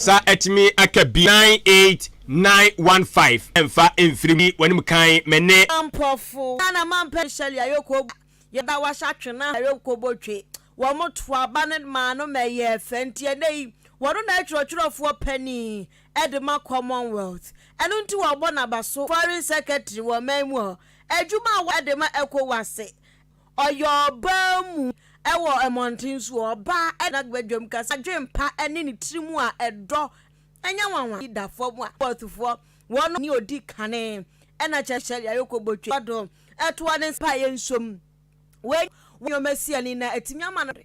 Sa atumi aka bi. Nine eight nine one five ɛnfa ɛnfiri mu yi w'anim kan me ne. Mporɔfo na na ma mpɛ nhyɛ lia yɛ kɔ bɔ yɛ da wa hyɛ twe na yɛ kɔ bɔ twe wɔ mo to aba ne maa no mɛ yɛ fɛ nti ɛnɛ yi wɔ no na yɛ twerɛ twerɛ foɔ pɛ ni ɛde ma commonwealth ɛno nti wɔ bɔ na ba so foreign secretary wɔ mɛ mu hɔ adwuma a wɔ ɛde ma ɛkɔ wɔ ase Ɔyɛ ɔbaa mu wɔ mmɔnten so. Ɔbaa de n'abadwam kasa, adwempa ne ne tirim a ɛdɔ nyɛ nwanwa yi da fam a, Nabothfoɔ, wɔn ne ɔdi kane na kyɛ sɛ deɛ ayɛ kɔbɔtwi kɔ do toa ne nsa pa a ɛyɛ nsuom. Wei ne nneɛma siani na ɛtumi ama no de.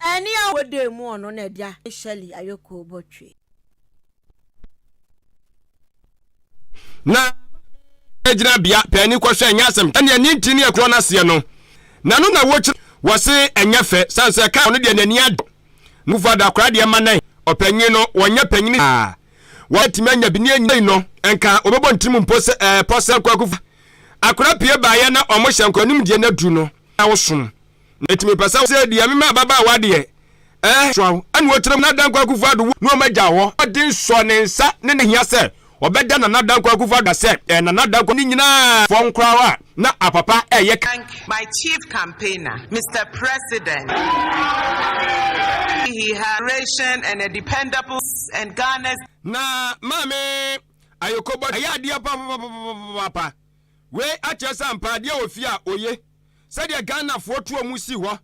Ɛne a wɔda mu ɔno na ɛde ahe Shirley Ayokoo Botwe. Na maame gyina bea pɛ ani kɔhwɛ ɛnyɛ asɛm ɛne ɛne nti ne ɛkorɔ no aseɛ no na ɛno na wɔkyerɛ wɔse ɛnyɛ fɛ sane sɛ ɛka ɔno deɛ n'ani agye ho na move ada akora deɛ ma nɛn ɔpanyin no wɔnyɛ panyini saa wɔn atumi anya bi ne ɛnyina yi no nka wɔbɛbɔ ntirim mpo sɛ ɛɛ pɔ sɛ kwakufa akora pie baeɛ na wɔhyɛ nkora anim deɛ no aduru no na wosom Na eti mepɛ sɛ wosɛ deɛ mema ababaawa deɛ, eh, soa wo, ɛna ɔtena mu, Nana Dankwa Akufo-Addo wu, na wɔagya hɔ. Mmɔden sɔɔ ne nsa ne ne hia sɛ ɔbɛda Nana Dankwa Akufo-Addo ase, eh, Nana Dankwa ne nyinaa fɔɔ nkoraa a na apapa reyɛ ka. Thank my chief campaigner, Mister President, he has inspiration and a dependable and Ghana's. Na Maame Ayokobɔ ayɛ adeɛ papapapapapaapa, wei akyerɛ sɛ ampa adeɛ wɔ fie a oye. sɛdeɛ Ghanafoɔ tu wɔn si hɔ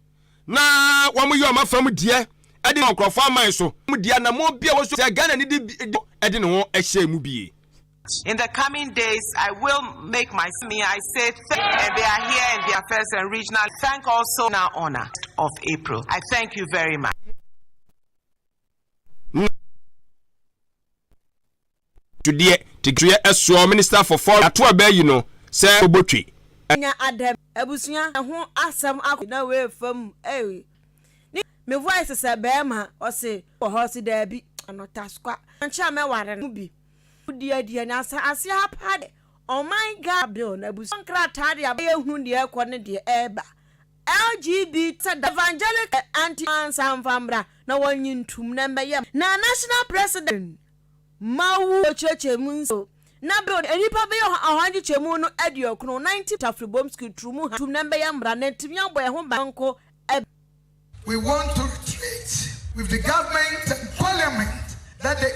na wɔyɛ wɔn afam deɛ de wɔn nkurɔfoɔ aman so deɛ anammɔn bi a wɔso sɛ Ghanani de bi de de ne ho hyɛ mu bie. In the coming days I will make my me I say thank and they are here in their first and regional thank also na honor of April I thank you very much. Tudeɛ Titreɛ ɛsoɔ Minister for Foreign Ato aba ayi no sɛ ɔbɔtwi. Nya adɛm abusua ɛho asɛm akɔ na wei fam ei ne me voice sɛ bɛɛma ɔse wɔ hɔ ɔse daabi ɔno taskwa wankyɛ a mɛware no bi wodi adie na asa aseɛ ha paa deɛ ɔman Ghana bill no abusua nkrataa deɛ aba yɛhu deɛ ɛkɔ ne deɛ ɛɛba LGBT sɛ da evangelical anti ansa mfa mbra na wɔnye ntum na mbɛyɛ na national president. ma wo kyerɛkyerɛ mu nso. Na bere a nnipa bɛyɛ ɔha nkyekyɛmu no aduokron, ninety, Tafre Bom Skwi turu mu ha tum na mbɛyɛ mbra na ntumi abɔ yɛn ho ban nko ɛbɛ. We want to treat with the government and parliament that the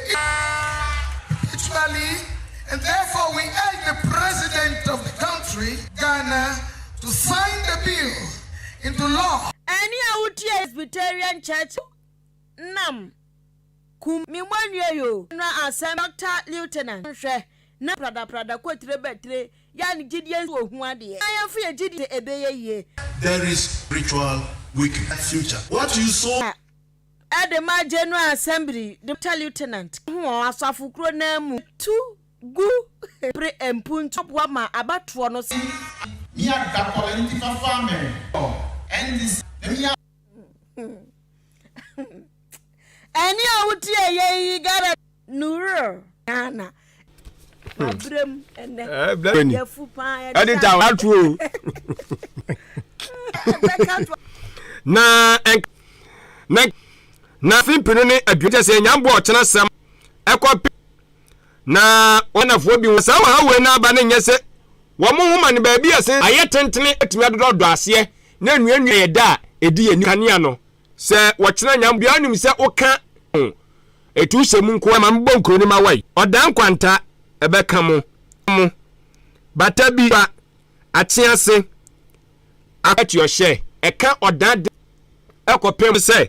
perpetually and therefore we urge the president of the country, Ghana, to sign the bill into law. Ɛne a wotie Presbyterian Church nam. Kum me mo anwie yo. Nra asɛm Doctor Lieutenant nhwɛ na prada prada kɔ tire bɛ tire yɛ ne gyidie nso ohu adeɛ na yɛnfo yɛ gyidie sɛ ɛbɛyɛ yie. There is spiritual weakness future what you sow. Ka ɛde ma General Assembly Doctor Lieutenant ka ho ɔɔ asafo kuro no ara mu tu gu bere mpuntuo boa ma abatoɔ no sɛ. Mia da kɔ nti fa fa me ɔ ndc na mia. ɛne a wotie yɛ yi gara no wura ghana mabrɛ mu ɛnɛ yɛfu paa ɛde ta waturo na na na fi pinu ne aduane kyɛ sɛ nyamboɔ ɔkyena sɛm ɛkɔ pe Na wɔnafoɔ bi ho saa ɔhaw wei no aba no nyɛ sɛ wɔn nhoma no baabi a ɛsen ayɛ tentene atumi adodɔ ɔdɔ aseɛ ne nnuannua a ɛda a ɛdi yɛn anim kanea no sɛ wɔkyena nyam obiara nnim sɛ woka ho ɛtu hyɛ mu nko ara ma mebɔ nkuro no ma wai ɔdaa nkwanta ɛbɛka mo mo bata bi ba akyease akɔ atuɔhyɛ ɛka ɔdaa de ɛkɔpem sɛ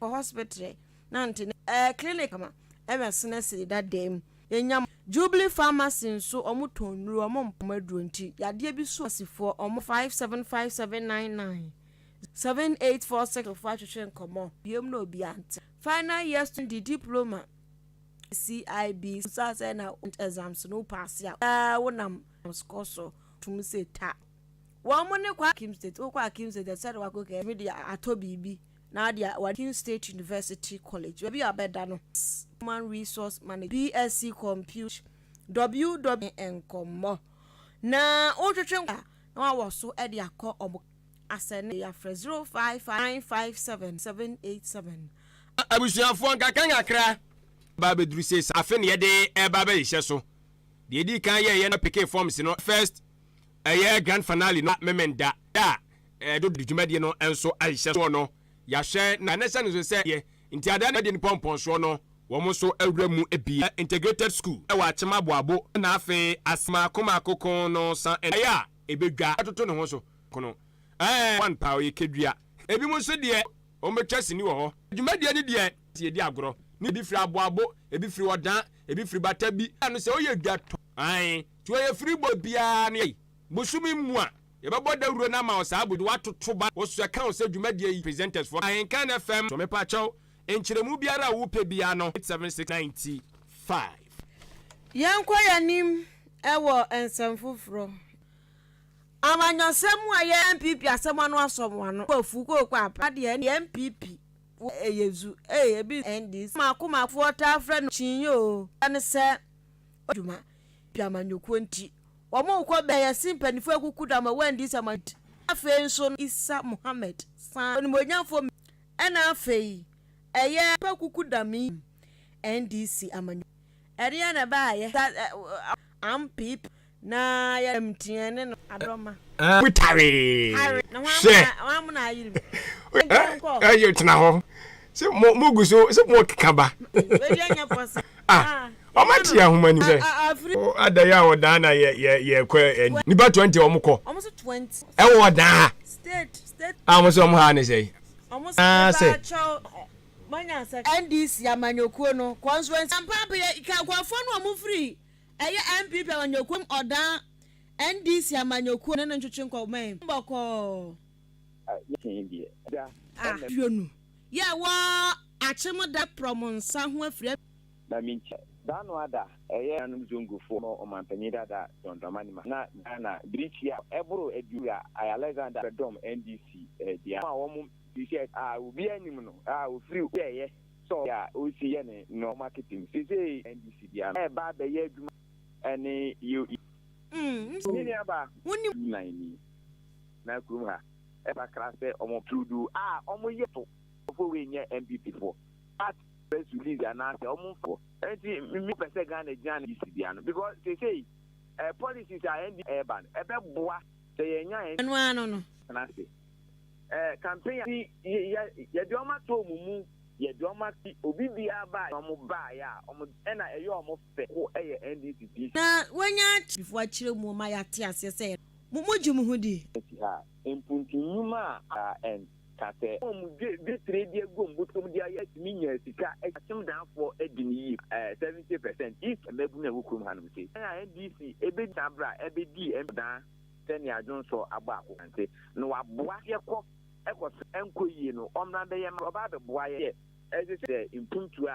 Kɔ hospital na nte ne eh clinic kama ɛwɛ sene sɛ da dan mu yɛ nya mo. Jubilee pharmacy nso ɔmo tɔn nnuro ɔmo mpam aduro nti yadeɛ bi su pharmacy foɔ ɔmo. Five seven five seven nine nine seven eight four six fo atwetwe nkɔmɔ. Biom na obia nte. Final year student de diploma CIB susa sɛ na exams no wo paase a wo daa wo nam score so tumi sɛ ta. Wɔn mu ne Kwara. Akim State, Wokɔ Akim State a, ɛsɛ sɛ wode w'akokɔ kɛkɛ tumi de atɔ biribi na wode a, w'ani. Akim State University College, baabi a wɔbɛda no. S, Human Resource Management, BSc Comput. WW. Nkɔmmɔ, na wotwetwe nkɔmmɔ a, na wɔawɔ so de akɔ wɔn ka. Asɛnneɛ a, yɛafrɛ 055 957 787. Abusuafoɔ, nkakrankakra aba abɛduru seesei. Afe na yɛde reba abɛhyehyɛ so. Deɛ ɛdi kan yɛyɛ no, na PK forms no, first. Ɛyɛ grand fanale no a Memenda da a ɛdo de dwumadie no nso ahyɛ soɔ no yahwɛ na na ɛsɛne nso sɛ yɛ nti ada na ɛdi no pɔmpɔn soɔ no wɔn nso awura mu bi yɛ integrated school wɔ akyem aboabo na afei ase maako maako ko no san ɛnayɛ a ɛbɛdwa ɛtoto ne ho so ko no ɛɛ one paa ɔyɛ kɛdua ɛbi mu nso deɛ wɔn bɛtwa sini wɔ hɔ dwumadie no deɛ sɛ yɛdi agorɔ ne ɛbi firi aboabo ɛbi firi ɔdan ɛbi firi bata bi ano sɛ ɔyɛ dwa tɔ ae. To ayefiri bɔ biara ne yɛn bosome mu a yɛbɛbɔ dawuro no ama wo saa bosome watoto ba wo so ɛka wo sɛ dwumadie yi presenters foɔ ahenkan fm so mepakyɛw nkyerɛmu biara a wopɛ biara no 87695. Yɛnkɔ yɛn anim wɔ nsɛm foforɔ. Amanyɔsɛm mu a yɛ NPP asɛm ano asɔ mo ano wɔ afuo kooko aba na deɛ ɛne NPP wɔ ɛyɛ zu ee ebi nso NDC. Mako makofoɔ taa frɛ no kyinyɛ oo, ɛne sɛ ɔyɛ adwuma. pɛ amanyɔkuo nti. Wɔn rekɔ bɛn ɛse mpaninfoɔ akuku da ma wɔandi nsɛmma nti. Afei nso no Isa Muhammad san onimuonyanfoɔ mmienu ɛna afei ɛyɛ pɛ kuku da me yi NDC amanyɔkuo. Ɛdeɛn na ɛbaeɛ da ampp na yɛ dɛm nti yɛne no adɔ ma. Wo tare hwɛ ɛyɛ tena hɔ se mo guso se mo keka ba. Ah, ọmọ ati yɛ ahoma ni sɛ ada yɛ a ɔdan na yɛ yɛ yɛ kɔ ɛn nipa twenty ɔmo kɔ ɛwɔ ɔdan ha a ɔmo sɛ ɔmo ha ne sɛ yi naa sɛ. NDC amanyɔkuo no constituency. Ampaabea ka nkurɔfoɔ no a wɔfiri ɛyɛ NPP amanyɔkuo mu Ɔdan NDC amanyɔkuo ne no ntwetwe nkɔmmɔ yi bɔkɔɔ. Aduonu yɛ wɔ akyem da prɔm nsa ho afiri. Na me nti da no ada ɛyɛ nuanom Zongo foɔ no ɔmanpanin dada John Dramani Mahama na Ghana birikyi a ɛboro aduonu wura Alexander Adom NDC bea a wɔn T-shirt a obiara nnim no a ɔfiri obi a ɛyɛ sɛ ɔyɛ a ɔresi yɛ ne nnoɔma marketing sesei NDC bea no ɛreba abɛyɛ adwuma ɛne yɛ. Nti me nua baa wonim. Nnan ni. Na kurom ha ɛfa kra sɛ ɔmo tuudu a ɔmo yɛ to fo wei nyɛ NPP foɔ part press release anaa sɛ ɔmo nfa Ɛnti me pɛ sɛ Ghana gyina ne NDC deɛ ano because seisei eh policies a NDC ɛɛba no ɛbɛ boa sɛ yɛ nya NDC Ɛno ara no no. tena ase eh campaign a yɛ yɛ yɛ de ɔmo ato ɔmo mu yɛ de ɔmo akyi obi biara ba a ɔmo baeɛ a ɔmo ɛna ɛyɛ ɔmo fɛ ko ɛyɛ NDC DC. Na wanya. Before akyire mu ma yɛ ate aseɛ sɛ yɛ. Mo mo gye mo ho di. Asi ha a, mpuntu nnwuma a a ɛn ka sɛ. Wɔn mo gye di tire di agu wɔn botom di ayɛ tumi nya sika akyi. Akyem dan foɔ adi no yie pa ɛɛ 70 percent DC. Mmabunu a ɛwɔ kurom ha nom sei. Kwan a NDC ɛbɛ di saa berɛ a ɛbɛ di MP dan sɛ nea Adwonsɔ abɔ ako nante no wa boa yɛ kɔ ɛkɔ so ɛnkɔ yie no ɔmmra bɛ yɛ ma ɔbɛ abɛ boa yɛ. Ɛsɛ sɛ mpuntu a.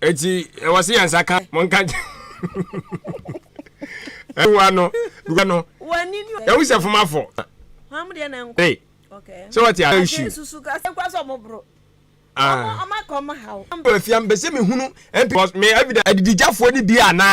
eti ɛwɔ se yɛn nsa ka mo nka ɛwa no dugba no ewu sɛ fom afɔ ee sɛ wɔte a nsu ɛwɔ fi ambɛsɛ mi hunu mp me evidence adidijafoɔ ni bi anaa.